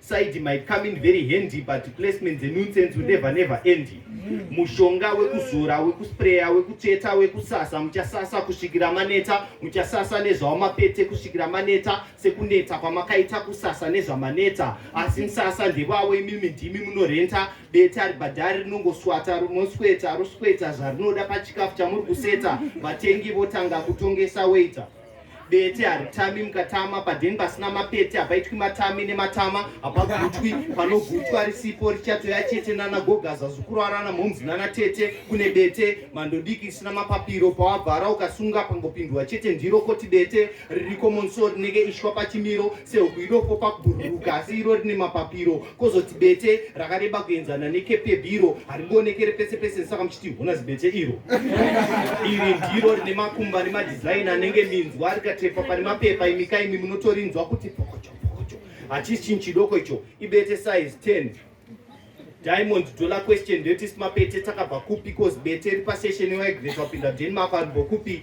side might come in very handy but placement dzenonsense will never never end mushonga wekuzora wekuspreya wekutsveta wekusasa muchasasa kusvikira maneta muchasasa nezvawamapete kusvikira maneta sekuneta kwamakaita kusasa nezvamaneta asi msasa ndevavo imimi ndimi munorenta beta ribhadhari rinongoswata rinosweta rosweta zvarinoda pachikafu chamuri kuseta vatengi votanga kutongesa waita bete haritami mukatama padheni pasina mapete hapaitwi matami nematama hapagutwi panogutwa risipo richatoya chete nana gogaza zukuru arana mhomzi nana tete kune bete mandodiki isina mapapiro pawavhara ukasunga pangopindwa chete ndiro koti bete ririko monso rinenge ishwa pachimiro sehuku idopo pakubhururuka asi iro rine mapapiro kozoti bete rakareba kuenzana nekepi yebhiro haringoonekere pese pese saka muchiti hona zibete iro iri ndiro rine makumba nemadhizaini anenge minzwa rikatepa pane mapepa imika imi munotorinzwa kuti pokocho pokocho hachisi chinhu chidoko icho ibete size 10 diamond dollar question ndeyoti simapete takabva kupi cause bete ripasession waigreswa pinda denmark aribokupi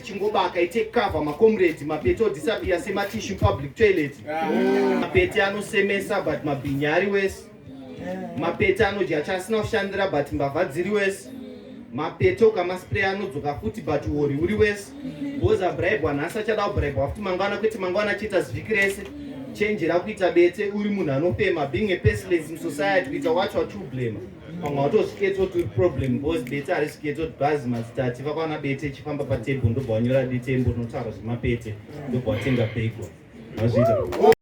chingobaka ite cover macomrade mapete odisappear sematishu public toilet mapete anosemesa but mabhinyi ari wese mapete anodya chaasina kushandira but mbavha dziri wese mapete ukamaspray anodzoka futi but uori uri wese bcoz abribwa nhasi achada kubribwa futi mangwana kwete mangwana achiita zviki rese chenjera kuita bete uri munhu anofema being a pestless in society kuita wacho achiublema pamwe watozviketsa kuti uri problem bcause bete harizviketsa kuti bhazi mazitati vakwana bete ichifamba patable ndobva wanyora detembo rinotaura zvemapete ndobva watenga bego mazvita